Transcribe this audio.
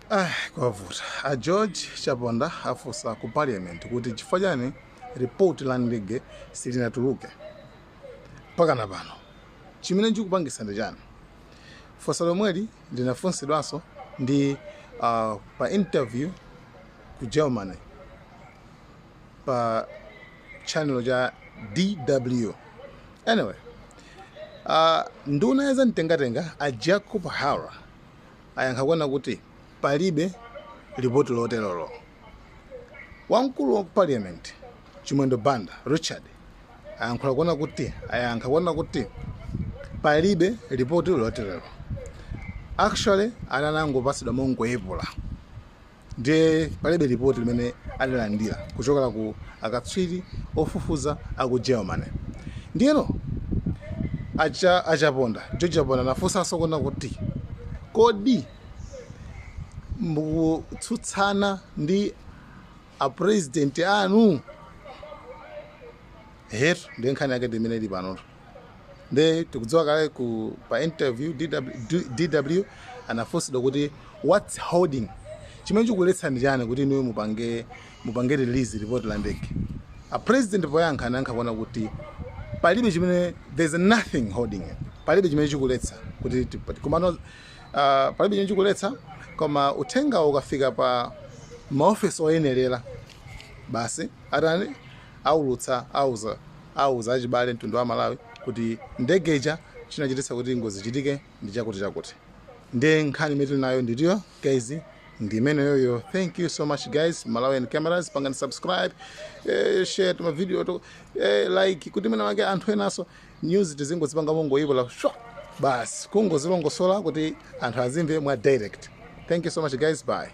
Ah, kwavuta a george chaponda afunsa ku parliament kuti chifukwa chani report la ndege silinatuluke pakana pano chimene chikupangisa ndi chani funso lomweli linafunsidwanso ndi uh, pa interview ku germany pa tchanelo cha dw anyway uh, nduna ya zamtengatenga a jacob hara ayankha kunena kuti palibe lipoti loterolo wamkulu wa parliament chimwendo banda richard ayankhula kunena kuti ayankha kunena kuti palibe lipoti loterolo actually ananangopasidwa mongoyepula Ndiye palibe lipoti limene adalandira kuchokera ku akatswiri ofufuza a ku Germany. Ndiyeno a Cha, a Chaponda, George Chaponda anafunsanso kunena kuti, Kodi mukutsutsana ndi a president anu? Ehetu, ndiye nkhani yake ndi imene ili panotu. nde tikudziwa kale ku pa interview DW, DW anafunsidwa kuti what's holding chimene chikuletsa ndi chani kuti inuyo mupange mupange release report la ndege a president poyankha anayankha kunena kuti palibe chimene there's nothing holding it palibe chimene chikuletsa kuti tipa- komano uh, palibe chimene chikuletsa koma uthenga ukafika pa maofisi oyenerera basi atani aulutsa auza auza achibale mtundu wa amalawi kuti ndege ija chinachititsa kuti ngozi ichitike ndi chakuti chakuti nde nkhani imene tili nayo ndi iyo guys ndi imeneyoyo thank you so much guys malawian cameras pangani subscribe eh, share tuma video to eh, like kuti mwina wake anthu enaso news tizingozipanga mongoyepula basi kungozilongosola kuti anthu azimve mwa direct thank you so much guys bye